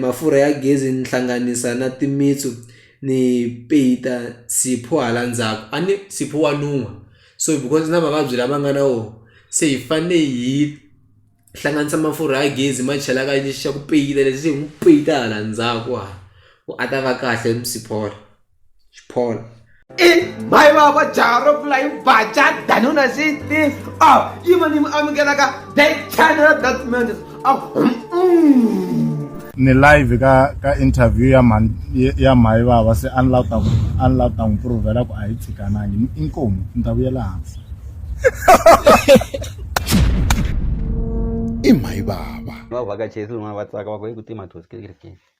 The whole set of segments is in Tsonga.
mafurha ya gezi ni hlanganisa na timitsu ni peyita sipho hala ndzhaku a ni sipho wa nuha so because na mavabyi lama nga na wona se hi fane hi hlanganisa mafurha ya gezi ma chela ka lexi xa ku peyita lexi hi n'wi peyita hala ndzhaku hala ku a ta va kahle . xiphola i mhayi vava jaha ro pfula hi vaca danuna xiti a yima ni mi amukelaka the channel that mans a ni live ka ka interview ya mhani ya mhayi vava se a ni la ta a ni la ta n'wi provela ku a hi tshikanangi inkomu ni ta vuyela hansi i mhayi vava va vhakachesi van'wana va tsaka va ku hi ku tima thosi kerekeni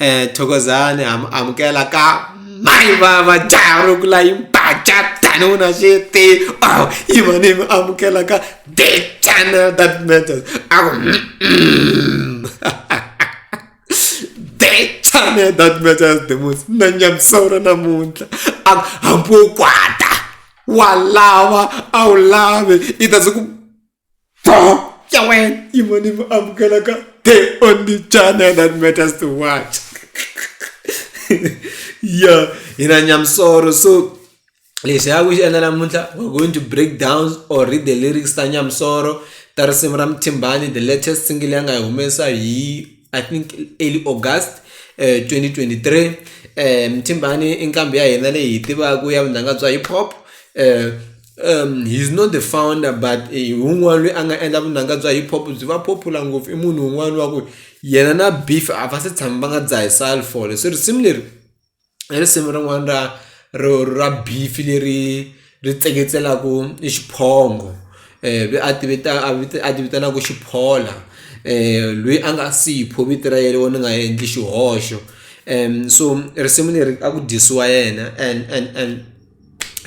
um thokozani ha mi amukela ka mayi vava jaha ro kula yi mbaja tani u na xiti aw yi va ni mi amukela ka the channel that matters a ku the channel that matters the most na nyamisora namuntlha a hambi wo kwata wa lava a wu lavi i ta se ku ya wena yimo ni mi amukelaka the only channel that matters to watch ya hina nyamsoro so lexi ya ku xi endla namuntlha we're going to break downs or read the lyrics ta nyamsoro ta risimu ra muthimbani the latest single ya nga yi humesa hi i think early august eh, 2023 eh, muthimbani i nqambi ya hina leyi hi tivaka ya vunanga bya hip hop eh, he's not the founder but i wun'wani lweyi a nga endla vunanga bya hip hop byi va popular ngopfu i munhu wun'wani wa ku yena na beef a va se tshama va nga dzahi sulphur se risimu leri i risimu rin'wani ra ro ra beef leri ri tseketselaku i xiphongo lweyi a ti vita a a ti vitanaku xiphola lweyi a nga Sipho vito ra ye ri vona nga endli xihoxo so risimu leri a ku dyisiwa yena and and and.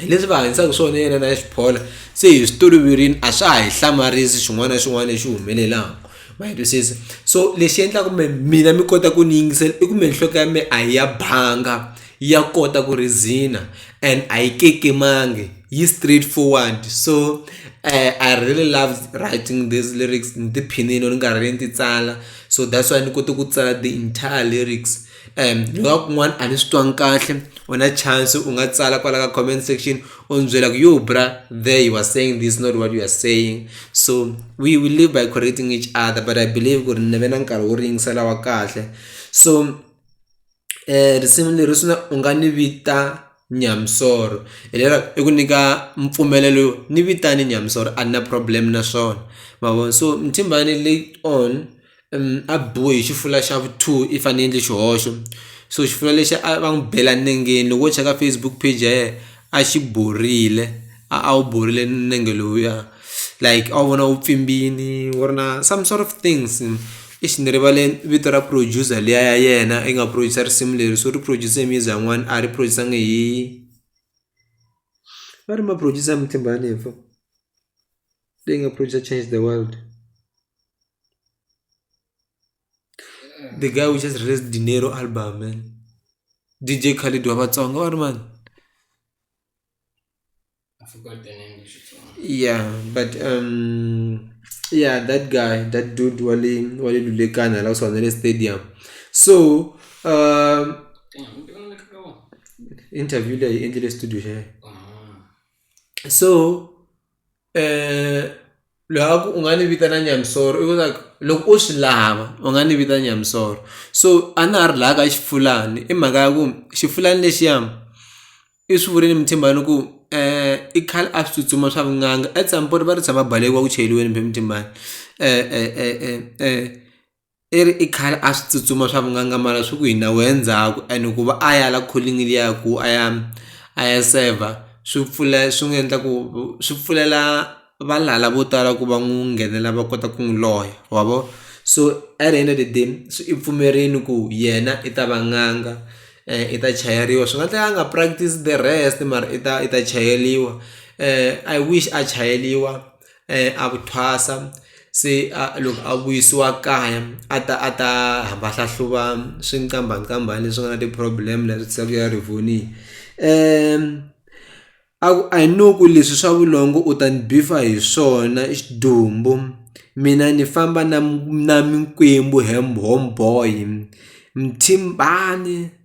hi leswi va hanyisaka swona yena na xiphola se hi swi toloverini a swa ha hi hlamarisi xin'wana na xin'wana lexi humelelaka ma yi twisisa so lexi endlaka kumbe mina mi kota ku ni yingisela i kumbe nhloko ya mina a yi ya banga ya kota ku reason-a and a yi kekemangi yi straight forward so I really love writing these lyrics ni tiphinile ni karhi ni ti tsala so that's why ni kote ku tsala the entire lyrics. ni nga kun'wana a ni swi twangi kahle u na chance u nga tsala kwala ka comment section u ni byela ku yo bra there you are saying this not what you are saying so we we live by correcting each other but i believe ku ri ni ve na nkarhi wo ringisela wa kahle so um risimu leri swi na u nga ni vita nyamisoro hi lera i ku nyika mpfumelelo yo ni vitane nyamisoro a ni na problem na swona ma vo so mthimbani late on. a biwe hi xifula xa vu two if a ni endli xihoxo so xifula lexi a va n'wi bela nengeni loko wo cheka Facebook page ya yena a xi borile a a wu borile nenge lowuya like a wu vona wu pfimbile wu ri na some sort of things eish ni rivale vito ra producer liya ya yena yi nga produce-r risimu leri so ri produce music yin'wani a ri produce-angi hi va ri ma producer ya Mthimbani leyi nga producer change the world. the guy who just released dinero album man D_J Khaled wa Vatsonga or man I forgot the name of the song. yeah but um yeah that guy that dude wale wale lulekana la kusona le stadium so um Damn, I'm doing like a one. interview leyi endlile studio xeyo Ah. so loyi a ku u nga ni vitana Nyamisoro i ku like loko u swi lava u nga ni vita Nyamisoro so a na ha ri laya ka Xifulani i mhaka ya ku Xifulani lexiya i swi vurile Muthimbani ku i khale a swi tsutsuma swa vunanga at some point va ri tshama balekile wa ku chayeriweni Muthimbani . i ri i khale a swi tsutsuma swa van'wangamala swi ku hina wehe ndzhaku and ku va a ya la calling liya ku a ya a ya saver swi pfula swi n'wi endla ku swi pfulela valala vo tala ku va n'wi nghenelela va kota ku n'wi loya wa vo so at the end of the day se i pfumerile ku yena i ta va n'anga i ta chayeriwa swi nga endleka a nga practice the rest mara i ta i ta chayeriwa I wish a chayeriwa. a ku thwasa se a loko a vuyisiwa kaya a ta a ta hamba a hlahluva swinkambhankambhani leswi nga na ti-problem la swi tisaka ku ya rivoniwi a ku a hi no ku leswi swa vulongo u ta ni bifa hi swona i xidumbu mina ni famba na na mikwembu hembe homeboy muthimbani.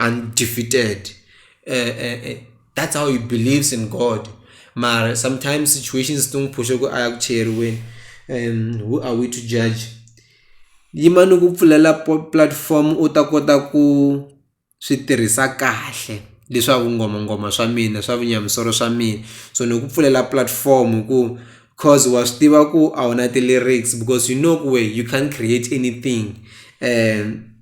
undefeated uh, uh, uh, that's how he believes in god mara sometimes situations tingiphushe ku aya kucheriweni um who are we to judge yimani ku pfulela platform u ta kota ku swi tirhisa kahle leswaku ngomangoma swa mina swa vunyamisoro swa mina so ni ku pfulela platform ku cause wa swi tiva ku a wu na ti-lyrics because you know ku we you can't create anything um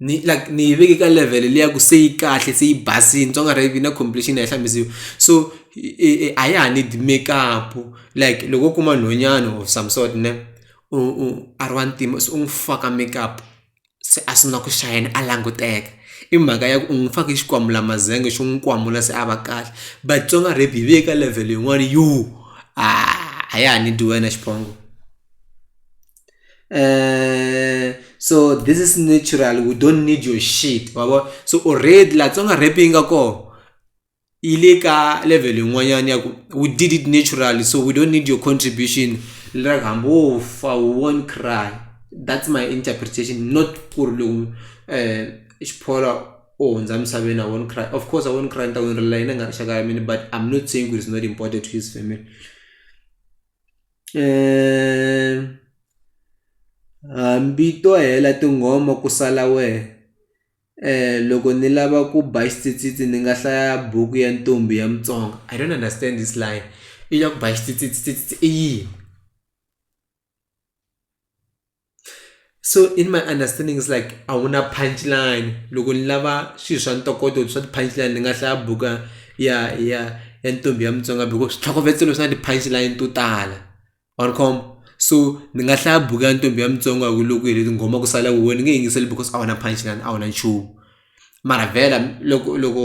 ni like ni yi veke ka level liya ku se yi kahle se yi basile ni twa nga ri yi na completion a yi hlambisiwi so a ya ha need makeup like loko wo kuma nhwanyana or some sort ne u u a ri wa ntima se u n'wi faka makeup se a sungula ku shine a languteka i mhaka ya ku u n'wi fake xikwambulamazenge xo n'wi kwamula se a va kahle but Tsonga rap yi veke ka level yin'wani yo a ya ha need wena xiphongo. Eh, so this is natural we don't need your shit wabo so already la tsonga rap yi nga kona yi le ka level yin'wanyana ya ku we did it naturally so we don't need your contribution like hambi wo fa we won't cry that's my interpretation not ku ri loko um xiphola o hundza emisaveni i won't cry of course i won't cry ni ta ku ni rila yini nga rixaka ya mina but i'm not saying ku it's not important to his family hambi to hela tinghoma ku sala wehe loko ni lava ku ba xitsitsitsi ni nga hlaya buku ya ntombi ya mutsonga I don't understand this line i ya ku ba xitsitsitsi i yini. so in my understanding is like a wu na punch line loko ni lava swilo swa ntokoto swa ti-punch line ni nga hlaya buka ya ya ya ntombi ya mutsonga because switlhokovetselo swi na ti-punch line to tala wa ni khoma so ni nga hlaya buku ya ntombi ya mutsonga hi ku loko hi ri tinghoma ku sala huwe ni nge yingiseli because a wu na punch line a wu na nchumu mara vhela loko loko.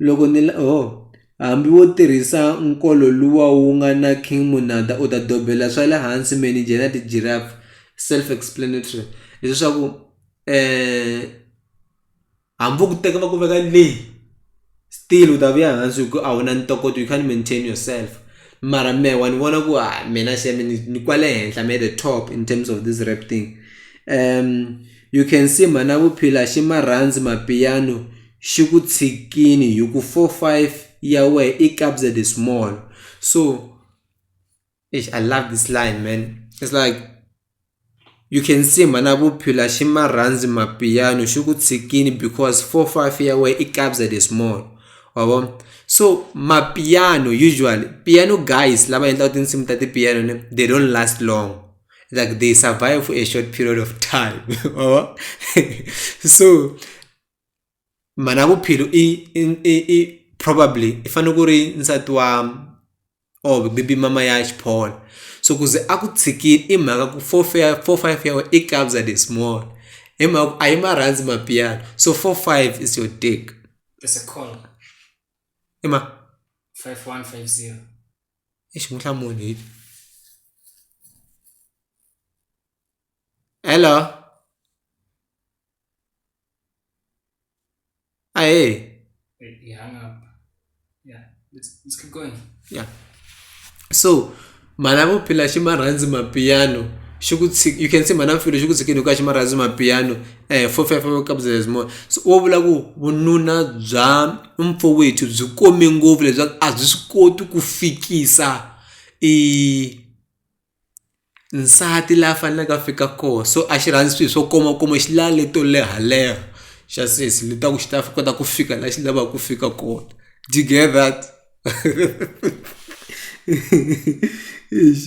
Loko ni la oh, hambi wo tirhisa nkolo luwa wu nga na King Monada u ta dobela swa le hansi manager na ti-giraffe self explanatory leswaku eh hambi vo ku teka va ku veka le still u ta vuya hansi hi ku a wu na ntokoto you can't maintain yourself mara mehe wa ni vona ku ha mina se mi ni ni kwale henhla me the top in terms of this rap thing you can see mhana Vuphila Ximarhandzi Mapiano. xi ku tshikini hi ku four five ya wehe i kabza the small so eish I love this line man it's like you can see mhana Bophila xi ma rhandzi mapiano xi ku tshikini because four five ya wehe i kabza the small wa vo so mapiano usually piano guys lava endlaka tinsimu ta ti-piano ne they don't last long like they survive for a short period of time wa vo so. mhana vuphilo i i i i probably i fanele ku ri nsati wa or maybe mama ya xiphola so ku ze a ku tshikile i mhaka ku four four five ya wena i kabya the small hi mhaka ku a yi ma rhandzi mapiano so four five is your take i ma i xi n'wi hlamuli hi hello. Ah, hey. It hung up. Yeah, let's, let's keep going. Yeah. So, mhana vuphila xi ma rhandzi mapiano xi ku tshik- you can say mhana vuphila xi ku tshikini hikuva xi ma rhandzi mapiano um four five five couple of more so wo vula ku vununa bya mpfowethu byi kome ngopfu leswaku a byi swi koti ku fikisa i nsati la faneleke a fika kona so a xi rhandzi swilo swo komakoma xi lava leto lehaleha xa sesi ni ta ku xi ta swi kota ku fika laha xi lavaka ku fika kona do you get that eish .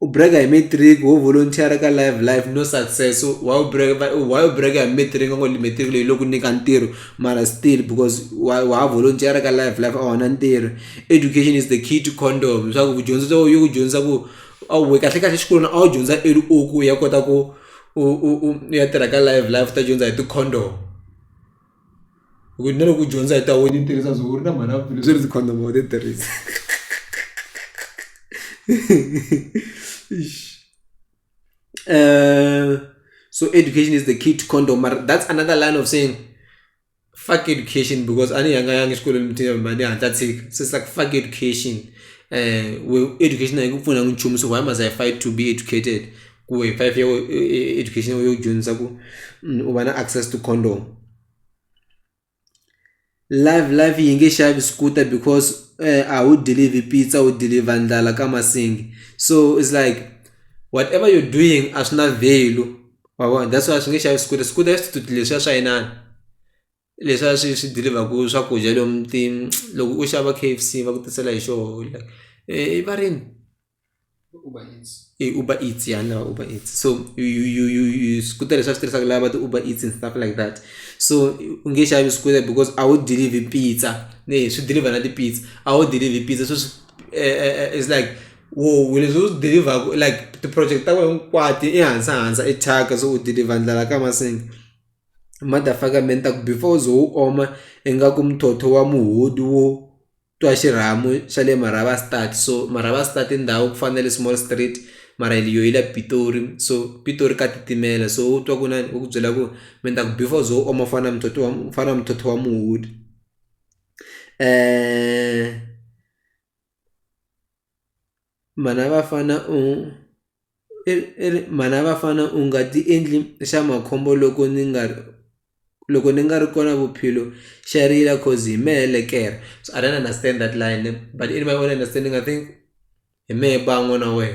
u brag-a hi matric wo volunteer-a ka live life no success why u brag-a why u brag-a hi matric va ngo matric leyi lo ku nyika ntirho mara still because wa wa ha volunteer-a ka live life a wu na ntirho education is the key to condom swa ku dyondzo to yi ku dyondzisa ku a wu kahle kahle exikolweni a wu dyondza early u ku ya kota ku u u u ya tirha ka live life u ta dyondza hi ti-condom. hi ku na loko u dyondza hi ta wena yi tirhisa byongo ri na mhani a ku leswi ri ndzi condom wa ti tirhisa so education is the key to condom mara that's another line of saying fuck education because a ni yanga yanga exikolweni mthi mani hatla tshika so it's like fuck education um we education a yi ku pfuni hi nchumu so why must I fight to be educated. ku hi five year education yo dyondzisa ku mm, u va na access to condom live live yi nge xavi scooter because eh, a wu deliver pizza wu deliver ndlala ka masingi so it's like whatever you're doing a swi na value wa vona that's why swi nge xavi scooter scooter ya swithuti leswiya swa inani leswiya swi swi deliverku swakudya lomu ti loko u xava k f c va ku tisela hi xoho like eh, i varini i uber eats ya na uber eats so you you you you scooter leswi a swi tirhisaka lava ti uber eats and stuff like that so u nge xavi scooter because a wu deliver pizza ne swi dilivha na ti-pizza a wu dilivhi pizza sweswi is like wo we leswi u swi dilivhaku i like ti-project ta wena hinkwato i hansa hansa i thyaka se u dilivha ndlala ka masinga motherfucker man ni ta ku before u ze u oma ingaku muthotho wa muhudi wo. twa xirhamu xa le Marabastad so Marabastad i ndhawu ku fana na le Small Street mara yo yi la Pitori so Pitori ka titimela so u twa ku na u ku byela ku mi ta ku before u ze u oma fana na muthotho wa u fana na muthotho wa muhudi . Mhana vafana u i ri i ri mhana vafana u nga ti endli xa makhombo loko ni nga ri loko ni nga ri kona Bophelo xa rila coz hi mehe le kere so I don't understand that line but in my own understanding I think hi mehe ba n'wana wehe.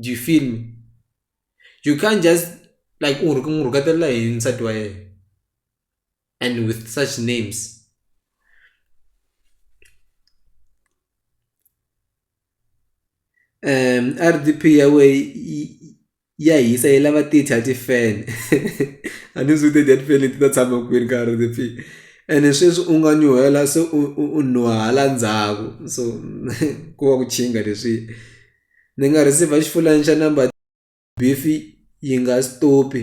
do you feel me you can't just like u rhu n'wi rhuketela hi nsati wa yena and with such names um R_D_P ya wehe yi yi. ya hisa yi lava ti dya ti-fan a ni swi tiya ti-fan leti ta tshama kwini ka R_D_P ene sweswi u nga nyuhela se u u u nuha hala ndzhaku so ko va ku nkingha leswi ni nga receive-a xifulayini xa number beef-i yi nga stop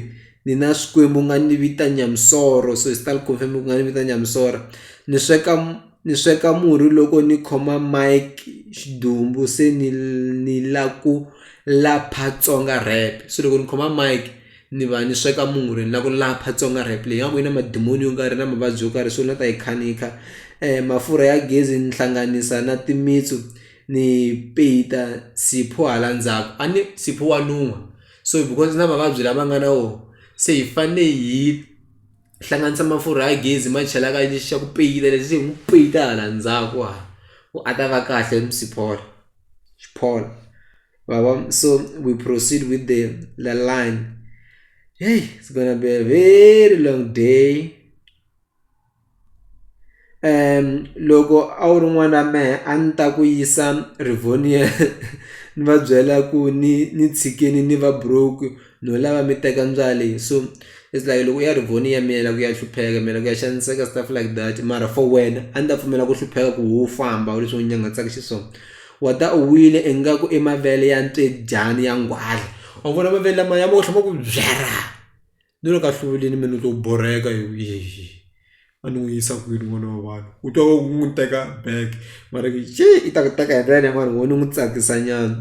ni na Xikwembu nga ni vita Nyamisoro so hi xitalo ku fanele ku nga ni vita Nyamisoro ni sweka . Ni sweka murhi loko ni khoma mic xidumbu se ni ni la ku lapha Tsonga rap se loko ni khoma mic ni va ni sweka murhi ni la ku lapha Tsonga rap leyi nga ku yi na madimoni yo karhi na mavabyi yo karhi so ni la ta yi kha ni yi kha mafurha ya gezi ni hlanganisa na timitsu ni peyita Sipho hala ndzhaku a ni Sipho wa nuha so because na mavabyi lama nga na wona se hi fane hi. hlanganisa mafurha ya gezi ma chela ka lexi xa ku peyila lexi hi n'wi peyita hala ndzhaku hala ku a ta va kahle musi-port xi-port ma vo so we proceed with the the line heyi it's gonna be a very long day. loko a wu ri n'wana wa mehe a ni ta ku yisa Rivonia ni va byela ku ni ni tshikini ni va broke no lava mi teka ndzwalo so it's like loko u ya Rivonia mi yela ku ya hlupheka mi yela ku ya xaniseka stuff like that mara for wena a ni ta pfumela ku hlupheka ku ho famba leswi u nyangatsaka xiswona wa ta u wile ingaku i mavele ya ntswedyani ya nghwaza wa vona mavele lamaya ma ku tlhe ma ku byarha. Ni le ka hluviwile mina ni to borheka a ni n'wi yisa kwini n'wana wa vanhu u twa va ku n'wi teka back mara ku yi i ta ku teka hi ndlela leyi mani ho ni n'wi tsakisa nyana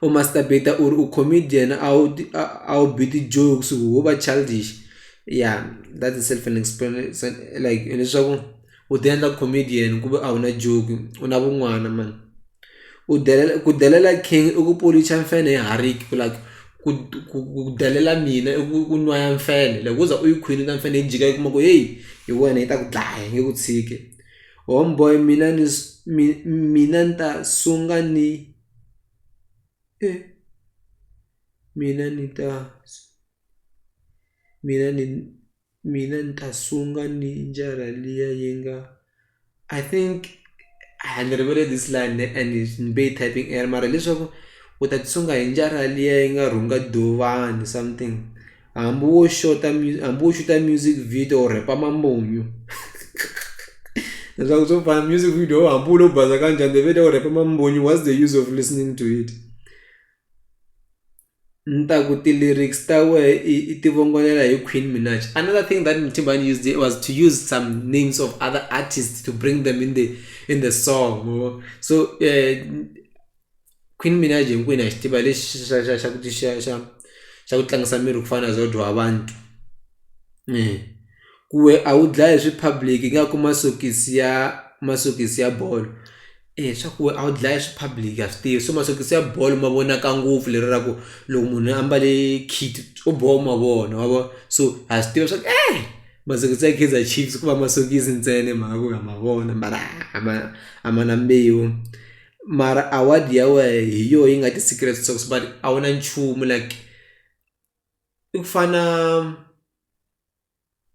u must beta u ri u comedian a wu a a wu bi ti-jokes wo va childish ya that is self an like hileswaku. u ti endla comedian ku ve a wu na joke u na vun'wana mani u delela ku delela king i ku polish-a mfenhe hi hariki ku la ku ku ku delela mina i ku ku nwa ya mfenhe loko wo za u yi khwinisa mfenhe yi jika yi kuma ku heyi hi wena yi ta ku dlaya yi nge ku tshiki home boy mina ni mi mina ni ta sungula ni e mina ni ta mina ni. mina ni ta sunga ni njara liya yi nga i think a ni rivele this line and ni be typing error mara leswaku u ta tisunga hi njara liya yi nga rhunga dovani something hambi wo xota hambi wo xuta music video u rhepa mamunyu leswaku swo fana music video hambi u lo baza kanjhani the video u rhepa mamunyu what's the use of listening to it Ni ta ku ti-lyrics ta wehe i i ti vongolela hi Queen Minaj another thing that Mthimbani used it was to use some names of other artists to bring them in the in the song ma vo so Queen Minaj hinkwenu ha xi tiva lexi xa xa xa ku xa xa xa xa ku tlangisa miri ku fana na Zodwa wa vanhu ku we a wu dlayi swi public i nga kuma sokisi ya masokisi ya bolo. Eya swa ku a wu dlaya swi public a swi tivi so masokisi ya bolo ma vonaka ngopfu lero ra ku loko munhu a mbale kit swo boha u ma vona wa vo so ha swi tiva swa ku masokisi ya Kaizer Chiefs ko va masokisi ntsena hi mhaka ku ha ma vona mara a ma a ma na mbewu mara award ya wehe hi yoho yi nga ti-secret sauce but a wu na nchumu like i ku fana.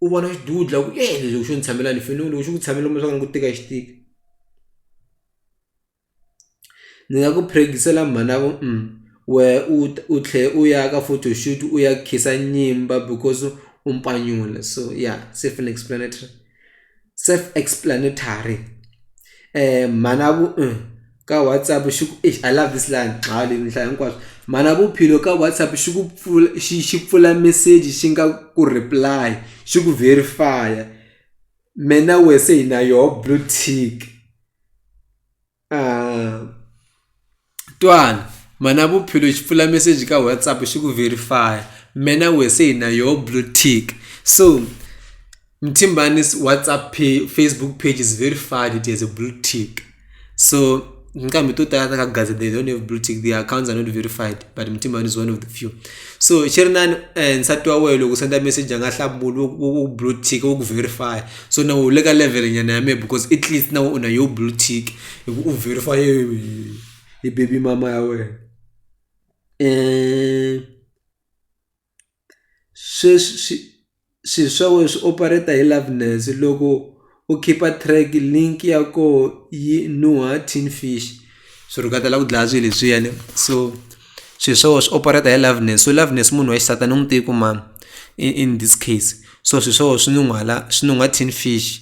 u vona xidudla ku e lexi xo ni tshamela ni fanele loko xi ku tshamela kumbexana ni ku tika xi tika ni nga ku practice-ela mhana ku wehe u u tlhela u ya ka photo shoot u ya khensa nyimba because u mpanyula so ya self explanatory self explanatory mhana ku. ka WhatsApp xi ku eish I love this line Mhali ni hlaya hinkwaswo mhana Bophelo ka WhatsApp xi ku pfula xi xi pfula meseji xi nga ku reply xi ku verify-a me na we se hi na yoho blue tick twala mhana Bophelo xi pfula meseji ka WhatsApp xi ku verify-a me na we se hi na yoho blue tick so. Mtimbanis WhatsApp page, Facebook page is very fun. It has a blue tick. So nkambi to tala takagaza they don't have blue tick their accounts are not verified but mtimbani is one of the few so xi ri nani eh, nsati wa wehe loko senda message a nga hlamuli wo- wo wo blue tick wo ku verify so na u le ka level nyana ya me because at least na u na yo blue tick hi ku u verify hi- hi baby mama ya wena um sweswi swi swilo swa wena swi operate hi loveness loko u khipa track link ya koho yi nuha tin fish swi rhuketela ku dlaya swilo leswiyani so swilo swa wena swi operate hi loveness so loveness munhu wa xisati a ni n'wi tivi ku mani in in this case so swilo swa wena swi nuhwala swi nuhwa tin fish.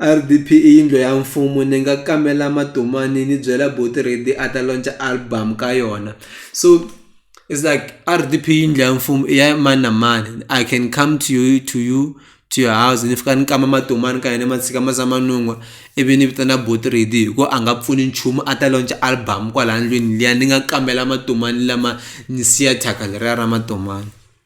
R_D_P i yindlu ya mfumo ni nga kamela Matomani ni byela buti Reddy a ta launch-a album ka yona so it's like R_D_P i yindlu ya mfumo i ya mani na mani I can come to you to you to your house ni fika ni kamba Matomani ka hina ma tshika ma za ma nun'hwa ivi ni vitana buti Reddy hi ku a nga pfuni nchumu a ta launch-a album kwala ndlwini liya ni nga kamela Matomani lama ni siya thyaka leriya ra Matomani.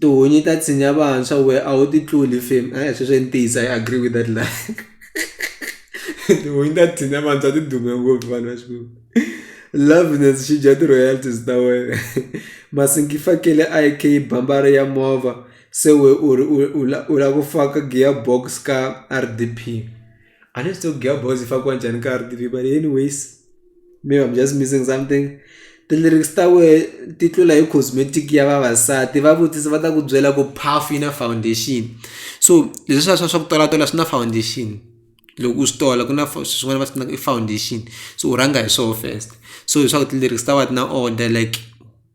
tihunyi ta tshinya vantshwa wehe a wu ti tluli fam e-e sweswo i ntiyiso I agree with that line tihunyi ta tshinya vantshwa ti dume ngopfu vanhu va xilungu loveliness xi dya ti-royalties ta wena Masingi Fakele I_K bambari ya movha se we u ri u u la u la ku faka gear box ka R_D_P. I need to girl boys if I go and TV, but anyways, maybe I'm just missing something. ti-lyrics ta wehe ti tlula hi cosmetic ya vavasati va vutisa va ta ku byela ku puff yi na foundation so leswi swa swa swa ku tolatola swi na foundation loko u swi tola ku na swin'wana va swi na i foundation so u rhanga hi swona first so hi swa ku ti-lyrics ta wena ti na order like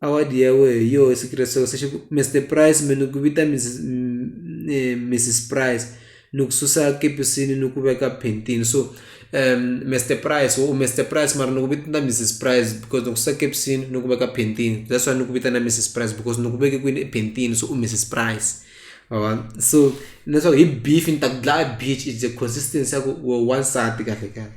award ya wehe hi yoho secret sauce se xi ku Mister price me ni ku vita Miss Miss price ni ku susa kepisi ni ku veka phentini so Mister price wo Mister price mara ni ku vitana Miss price because ni ku susa kepisi ni ku veka phentini that's why ni ku vitana Miss price because ni ku veke kwini ephentini so u Miss price ma vo so leswaku hi beef ni ta ku dlaya beach is a consistency ya ku wansati kahle kahle.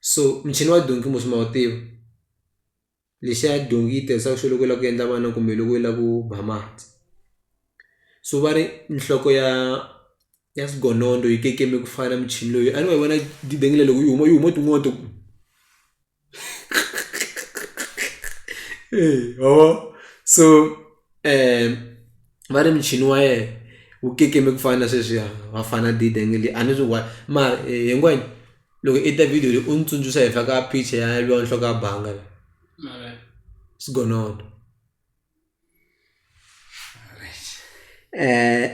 so muchini wa donki mos ma wu tiva lexiya donki yi tirhisaka xo loko u lava ku endla vana kumbe loko u lava ku ba mati so va ri nhloko ya ya swigonondo yi kekeme ku fana na muchini loyi a ni ma yi vona dangile loko yi huma yi huma tin'wana ta ku eya ma vo so. um va ri muchini wa yena wu kekeme ku fana na sweswiya vafana dida nge le a ni swi one mara hinkwenu loko i ta video leyi u ni tsundzuxa hi fa ka picha ya lwa nhloko ya banga la sigonono um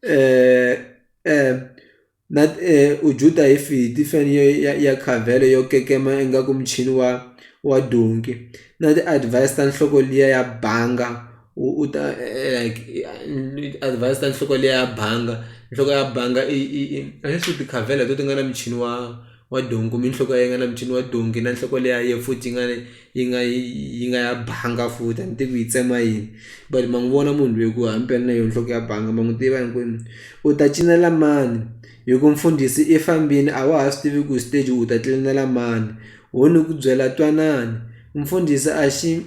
um um Na ee, u Juda hi fidi, feni ya khavelo yo kekema ingaku muchini wa wa donki, na ti-advise ta nhloko liya ya banga u u ta like advise ta nhloko liya ya banga nhloko ya banga i i i a ni swi tivi tikhavelo letiya ti nga na muchini wa. wa donghi kumbe nhloko ya yena yi nga na muchini wa donghi na nhloko liya ya yena futhi yi nga yi nga yi yi nga ya banga futhi a ni tivi ku yi tsema yini but ma n'wi vona munhu loyi ku himpela na yona nhloko ya banga ma n'wi tiva hinkwenu u ta cinela mani hi ku mfundhisi i fambini a wa ha swi tivi ku stage u ta tlilinela mani ho ni ku byela twanani mfundhisi a xi .